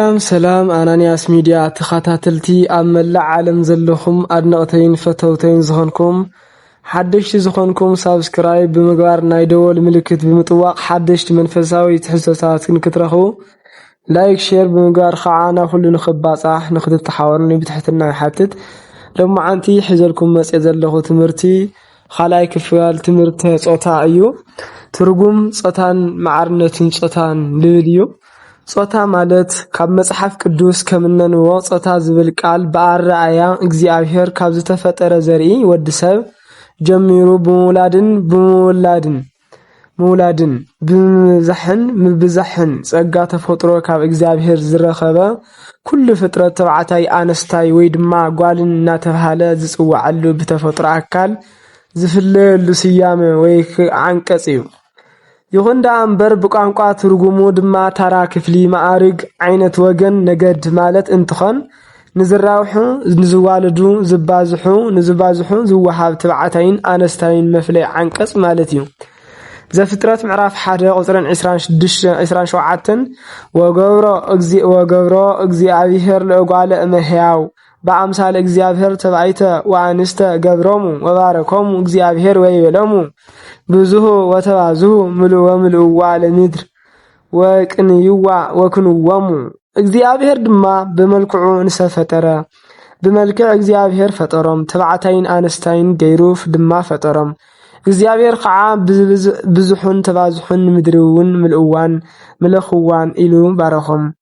ሰላም ሰላም ኣናንያስ ሚድያ ተኻታተልቲ ኣብ መላእ ዓለም ዘለኹም ኣድነቕተይን ፈተውተይን ዝኾንኩም ሓደሽቲ ዝኾንኩም ሳብስክራይብ ብምግባር ናይ ደወል ምልክት ብምጥዋቕ ሓደሽቲ መንፈሳዊ ትሕዝቶታት ክንክትረኽቡ ላይክ ሼር ብምግባር ከዓ ናብ ኩሉ ንኽባጻሕ ንኽትተሓወሩኒ ብትሕትና ይሓትት። ሎማዓንቲ ሒዘልኩም መጽ ዘለኹ ትምህርቲ ካልኣይ ክፍል ትምህርተ ጾታ እዩ። ትርጉም ጾታን ማዕርነትን ጾታን ልብል እዩ። ጾታ ማለት ካብ መጽሓፍ ቅዱስ ከም እነንብቦ ጾታ ዝብል ቃል ብኣረኣእያ እግዚኣብሔር ካብ ዝተፈጠረ ዘርኢ ወዲ ሰብ ጀሚሩ ብምውላድን ብምውላድን ምውላድን ብምብዛሕን ምብዛሕን ጸጋ ተፈጥሮ ካብ እግዚኣብሔር ዝረኸበ ኩሉ ፍጥረት ተባዕታይ ኣነስታይ ወይ ድማ ጓልን እናተብሃለ ዝጽዋዓሉ ብተፈጥሮ ኣካል ዝፍለየሉ ስያመ ወይ ዓንቀጽ እዩ። ይኹን ደኣ እምበር ብቋንቋ ትርጉሙ ድማ ታራ ክፍሊ መኣርግ ዓይነት ወገን ነገድ ማለት እንትኾን ንዝራብሑ ንዝዋልዱ ዝባዝሑ ንዝባዝሑ ዝወሃብ ትብዓታይን ኣነስታይን መፍለይ ዓንቀጽ ማለት እዩ። ዘፍጥረት ምዕራፍ ሓደ ቁጽርን ዕስራን ሸውዓተን ወገብሮ ወገብሮ እግዚኣብሄር ለእጓለ እመሕያው በኣምሳለ እግዚኣብሔር ተባይተ ወኣንስተ ገብሮሙ ወባረኮሙ እግዚኣብሔር ወይቤሎሙ ብዙሁ ወተባዝሁ ምሉ ወምልእዋ ለምድር ወቅንይዋ ወክንወሙ እግዚኣብሔር ድማ ብመልክዑ እንሰ ፈጠረ ብመልክዕ እግዚኣብሔር ፈጠሮም ተባዕታይን ኣንስታይን ገይሩ ድማ ፈጠሮም እግዚኣብሔር ከዓ ብዙሑን ተባዝሑን ንምድሪ እውን ምልእዋን ምለኽዋን ኢሉ ባረኾም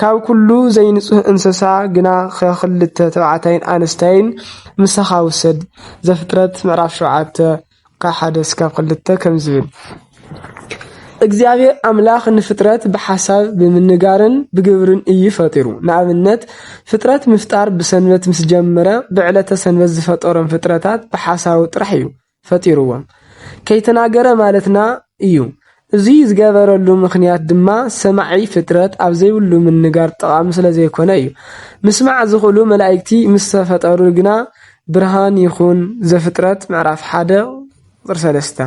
ካብ ኩሉ ዘይንጹህ እንሰሳ ግና ከክልተ ተባዕታይን ኣንስታይን ምሳካ ውሰድ ዘፍጥረት ምዕራፍ ሸውዓተ ካብ ሓደ እስካብ ክልተ ከምዚ ይብል እግዚኣብሔር ኣምላኽ ንፍጥረት ብሓሳብ ብምንጋርን ብግብርን እዩ ፈጢሩ። ንኣብነት ፍጥረት ምፍጣር ብሰንበት ምስ ጀመረ ብዕለተ ሰንበት ዝፈጠሮም ፍጥረታት ብሓሳቡ ጥራሕ እዩ። ፈጢርዎም ከይተናገረ ማለትና እዩ። እዙይ ዝገበረሉ ምኽንያት ድማ ሰማዒ ፍጥረት ኣብ ዘይብሉ ምንጋር ጠቓሚ ስለ ዘይኮነ እዩ። ምስማዕ ዝኽእሉ መላኢክቲ ምስ ተፈጠሩ ግና ብርሃን ይኹን ዘፍጥረት ምዕራፍ ሓደ ቁፅሪ ሰለስተ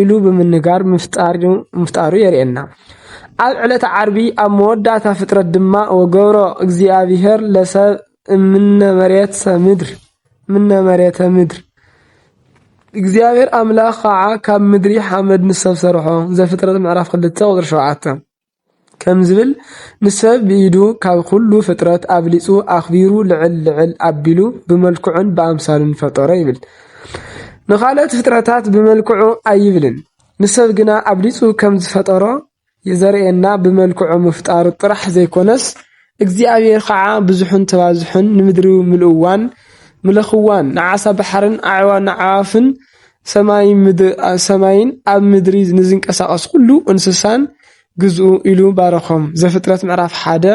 ኢሉ ብምንጋር ምፍጣሩ ምፍጣሩ የርእየና። ኣብ ዕለተ ዓርቢ ኣብ መወዳእታ ፍጥረት ድማ ወገብሮ እግዚኣብሔር ለሰብ እምነ መሬት ሰምድር ምነ መሬተ ምድር እግዚኣብሔር ኣምላኽ ኸዓ ካብ ምድሪ ሓመድ ንሰብ ሰርሖ ዘፍጥረት ምዕራፍ ክልተ ቁፅሪ ሸውዓተ ከም ዝብል ንሰብ ብኢዱ ካብ ኩሉ ፍጥረት ኣብሊፁ ኣኽቢሩ ልዕል ልዕል ኣቢሉ ብመልክዑን ብኣምሳሉን ፈጠሮ ይብል። ንኻልኦት ፍጥረታት ብመልክዑ ኣይብልን ንሰብ ግና ኣብሊፁ ከም ዝፈጠሮ የዘርእየና ብመልክዑ ምፍጣሩ ጥራሕ ዘይኮነስ እግዚኣብሔር ኸዓ ብዙሑን ተባዝሑን ንምድሪ ምልእዋን ምለኽዋን ንዓሳ ባሕርን ንኣዕዋፍን ሰማይን ኣብ ምድሪ ንዝንቀሳቀስ ኩሉ እንስሳን ግዝኡ ኢሉ ባረኾም ዘፍጥረት ምዕራፍ ሓደ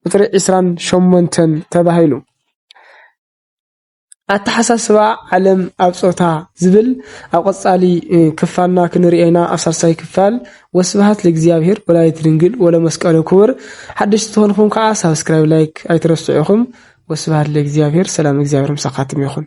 ቁፅሪ ዕስራን ሸሞንተን ተባሂሉ። ኣተሓሳስባ ዓለም ኣብ ጾታ ዝብል ኣብ ቐጻሊ ክፋልና ክንሪኦ ኢና ኣብ ሳልሳይ ክፋል ወስብሃት ለእግዚኣብሄር ወላዲት ድንግል ወለመስቀሉ ክቡር ሓደሽቲ ትኾንኹም ከዓ ሳብስክራይብ ላይክ ኣይትረስዑ ኢኹም ወስብሃት ለእግዚኣብሄር ሰላም እግዚኣብሄር ምሳኻትም ይኹን